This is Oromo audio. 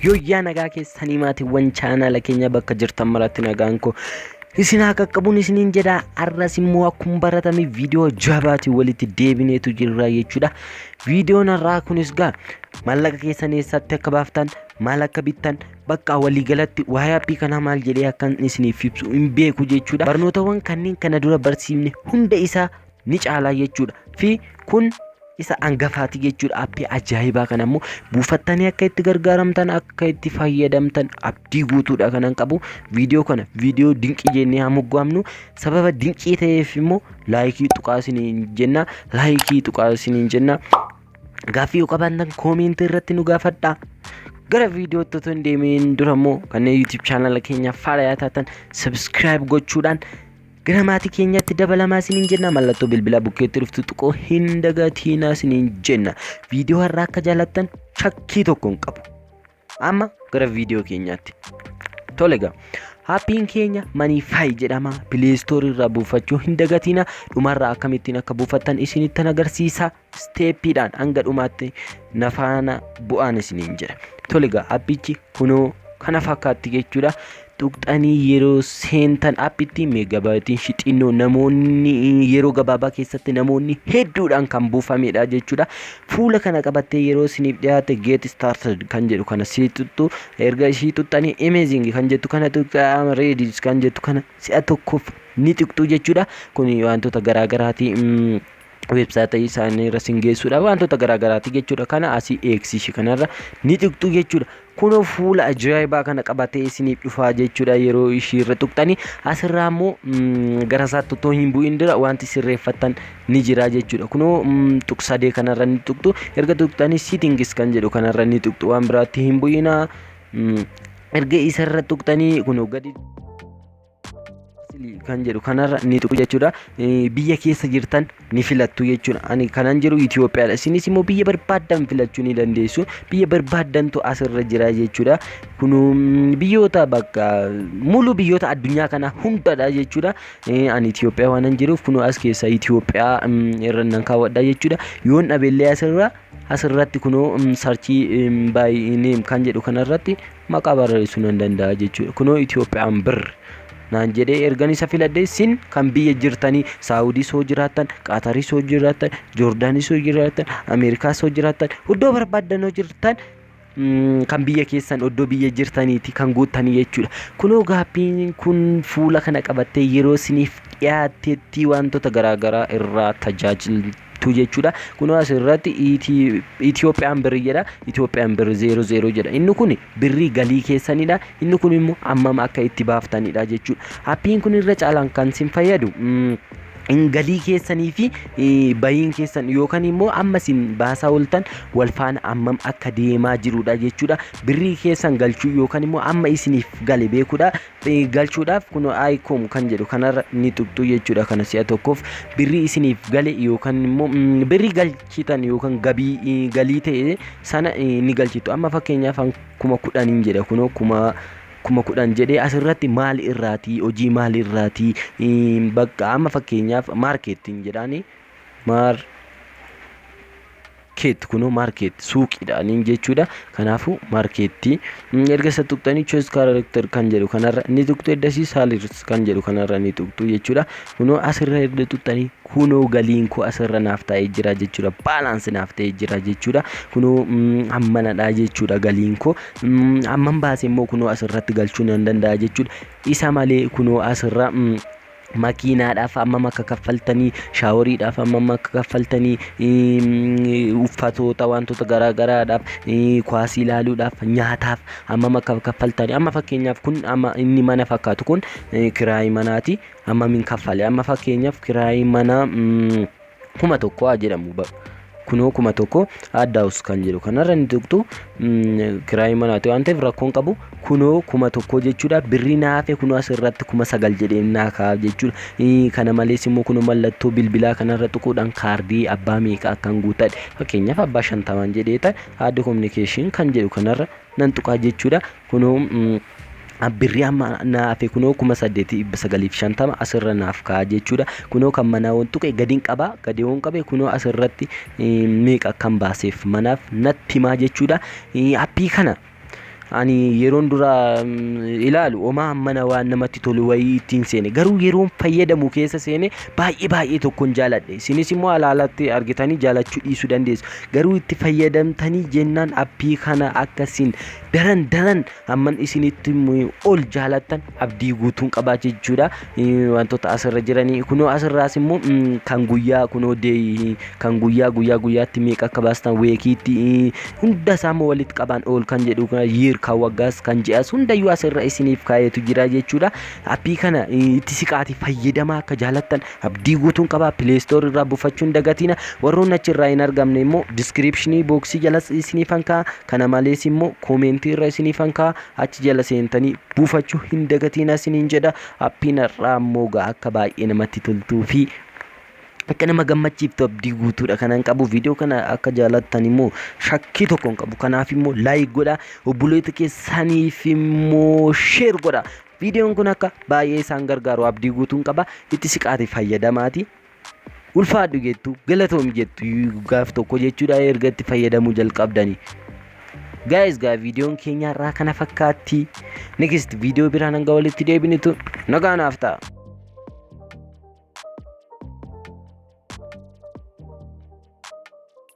Yoyyaa nagaa keessanii maatiiwwan chaanaala keenya bakka jirtan maratti nagaan koo isin haa qaqqabuun isiniin jedha arras immoo akkuma baratame viidiyoo jabaatiin walitti deebineetu jirra jechuudha viidiyoon har'aa kunis gaa maallaqa keessan eessatti akka baaftan maal akka bittan bakka waliigalatti waa'ee appii kanaa maal jedhee akkan isiniif ibsu hin beeku jechuudha barnootawwan kanneen kana dura barsiifne hunda isaa ni caalaa jechuudha fi kun isa angafaati jechuudha appii ajaa'ibaa kana immoo buufattanii akka itti gargaaramtan akka itti fayyadamtan abdii guutuudha kanan qabu viidiyoo kana viidiyoo dinqii jennee haa moggaamnu sababa dinqii ta'eef immoo laayikii tuqaa isiniin jenna laayikii tuqaa isiniin jenna gaaffii yoo qabaattan koomiintii irratti nu gaafadhaa gara viidiyoo otoo hin deemiin dura immoo kanneen yuutuub chaanala keenya faalayaa taatan sabiskiraayib gochuudhaan Gara maatii keenyaatti dabalamaa isiniin jenna mallattoo bilbilaa bukkeetti dhuftu tuquu hin dagatiinaa isiniin jenna viidiyoo har'aa akka jaalattan shakkii tokko hin qabu amma gara viidiyoo keenyaatti tole gaa Appiin keenya Maniifaayi jedhama. Pileestoorii irraa buufachuu hin dagatiina. Dhumarraa akkamittiin akka buufattan isinitti agarsiisa. steeppiidhaan hanga dhumaatti na faana bu'aan isiniin jedha tole egaa appichi kunoo kana fakkaatti jechuudha tuqxanii yeroo seentan appitti meegabaayitiin shixinnoo namoonni yeroo gabaabaa keessatti namoonni hedduudhaan kan buufamedha jechuudha fuula kana qabattee yeroo isiniif dhiyaate get started kan jedhu kana sii tuttu erga ishii tuttanii amazing kan jettu kana tuqqaama reedis kan jettu kana si'a tokkoof ni tuqxu jechuudha kun wantoota garaagaraati. website isaanii irra sin geessuudha wantoota garaagaraati jechuudha kana asii eegsii ishee kanarra ni tuqxu jechuudha kunoo fuula ajaa'ibaa kana qabatee isiniif dhufaa jechuudha yeroo ishii irra tuqxanii asirraa immoo mm, gara isaatti otoo hin bu'in dura wanti sirreeffattan ni jira jechuudha kunoo mm, tuq sadee kanarra ni tuqxu erga tuqxanii settings kan jedhu kanarra ni tuqxu waan biraatti hin bu'inaa mm, erga isarra tuqxanii kunoo gadi kan jedhu kanarra ni tuqu jechuudha. Biyya keessa jirtan ni filattu jechuudha. Ani kanan jiru Itoophiyaadha. Isinis immoo biyya barbaaddan filachuu ni dandeessu. Biyya barbaaddantu asirra jira jechuudha. Kun biyyoota bakka mulu biyyoota addunyaa kana hundadha jechuudha. Ani Itoophiyaa waanan jiruuf kun as keessa Itoophiyaa irra nan kaawwadha jechuudha. Yoon dhabeellee asirra asirratti kunoo sarchii baay'inee kan jedhu kanarratti maqaa barreessuu nan danda'a jechuudha. Kunoo Itoophiyaan bir naan jedhee ergan isa filadhee sin kan biyya jirtanii Saawudiis hoo jiraattan, Qaatariis hoo jiraattan, Joordaaniis hoo jiraattan, Ameerikaas hoo jiraattan, iddoo barbaaddan hoo jirtan mm, kan biyya keessan iddoo biyya jirtaniiti kan guuttanii jechuudha. Kunoo gaaffiin kun fuula kana qabattee yeroo siniif dhiyaattetti wantoota garaagaraa irraa tajaajil tu jechuudha. Kunoo asirratti Itiyoophiyaan birri jedha. Itiyoophiyaan birri zeero zeero jedha. Inni kun birrii galii keessanidha. Inni kun immoo hammam akka itti baaftanidha jechuudha. Appiin kun irra caalaan kan isin fayyadu galii keessanii fi bahiin keessan yookaan immoo amma isin baasaa ooltan wal faana hammam akka deemaa jirudha jechuudha. Birrii keessan galchuu yookaan immoo amma isiniif gale beekudha. galchuudhaaf kun icom kan jedhu kanarra ni tuqxu jechuudha kana si'a tokkoof birrii isiniif gale yookaan immoo birrii galchitan yookaan gabii galii ta'e sana ni galchitu amma fakkeenyaaf kuma kudhaniin jedha kunoo kuma kuma kudhan jedhee asirratti maal irraatii hojii maal irraatii bakka amma fakkeenyaaf maarkeettiin jedhaani maar keetti kunoo maarkeetti suuqiidha niin jechuudha kanaafuu maarkeetti erga isa tuqxanii choose character kan jedhu kanarra ni tuqxu eddasii salaries kan jedhu kanarra ni tuqxu jechuudha kunoo asirra erga tuqxanii kunoo galiin koo asirra naaf taa'ee jira jechuudha baalaansi naaf ta'ee jira jechuudha kunoo hammanadha jechuudha galiin koo hamman baase immoo kunoo asirratti galchuu nan danda'a jechuudha isa malee kunoo asirra makiinaadhaaf hammam akka kaffaltanii shaaworiidhaaf hammam akka kaffaltanii mm, uffatoota wantoota garaagaraadhaaf eh, kuwaasii ilaaluudhaaf nyaataaf hammam akka kaffaltanii amma fakkeenyaaf kun amma inni mana fakkaatu kun eh, kiraayii manaati hammam hin kaffale amma fakkeenyaaf kiraayii manaa mm, kuma tokko haa jedhamu ba- kunoo kuma tokko add house kan jedhu kanarra ni tuqxu mm, kiraayii manaati waan ta'eef rakkoon qabu kunoo kuma tokko jechuudha birrii naa hafe kunoo as irratti kuma sagal jedhee naa kaa'aaf jechuudha Ii, kana malees immoo kunoo mallattoo bilbilaa kanarra tuquudhaan kaardii abbaa meeqa akkan guutadhe fakkeenyaaf abbaa shantamaan jedhee ta'e add communication kan jedhu kanarra nan tuqaa jechuudha kunoo mm, birrii amma naa hafe kunoo kuma saddeetii dhibba sagaliif shantama asirra naaf ka'a jechuudha kunoo kan manaa waan tuqe gadiin qaba gadii waan qabe kunoo asirratti meeqa akkan baaseef manaaf natti himaa jechuudha appii kana ani yeroon dura ilaalu omaa mana waan namatti tolu wayii ittiin seene garuu yeroon fayyadamu keessa seene baay'ee baay'ee tokkon jaaladhe isinis immoo alaalatti argitanii jaalachuu dhiisuu dandeessu garuu itti fayyadamtanii jennaan appii kana akkasiin daran daran hamman isinitti himu ol jaalattan abdii guutuun qabaa jechuudha Eh, wantoota asirra jiranii kunoo asirraas immoo mm, kan guyyaa kunoo deeyii kan guyyaa guyyaa guyyaatti meeqa akka baastan weekiitti eh, hunda isaa immoo walitti qabaan ol kan jedhu kana year kan waggaas kan ji'as hundayyuu asirra isiniif kaayetu jira jechuudha appii kana eh, itti siqaati fayyadamaa akka jaalattan abdii guutuun qabaa pileestoor irraa buufachuun dagatiina warroon achirraa hin argamne immoo diskiripshinii booksii jalas isiniif hankaa Kana malees immoo koomentii irra isiniifan kaa'a achi jala seentanii buufachuu hin dagatiina isiniin jedha. Appiin har'aa immoo gaa akka baay'ee namatti toltuu fi akka nama gammachiiftu abdii guutuudha kanan qabu viidiyoo kana akka jaalattan immoo shakkii tokko hin qabu kanaaf immoo laayik godha obboleeta keessaniif immoo sheer godha viidiyoon kun akka baay'ee isaan gargaaru abdii guutuun qaba itti siqaati fayyadamaati. ulfaadhu jettu galatoomi jettu gaaf tokko jechuudha erga itti fayyadamuu jalqabdani. Gaayis gaa viidiyoon keenya irraa kana fakkaatti. Next viidiyoo biraan hanga walitti deebinutti nagaa naaf ta'a.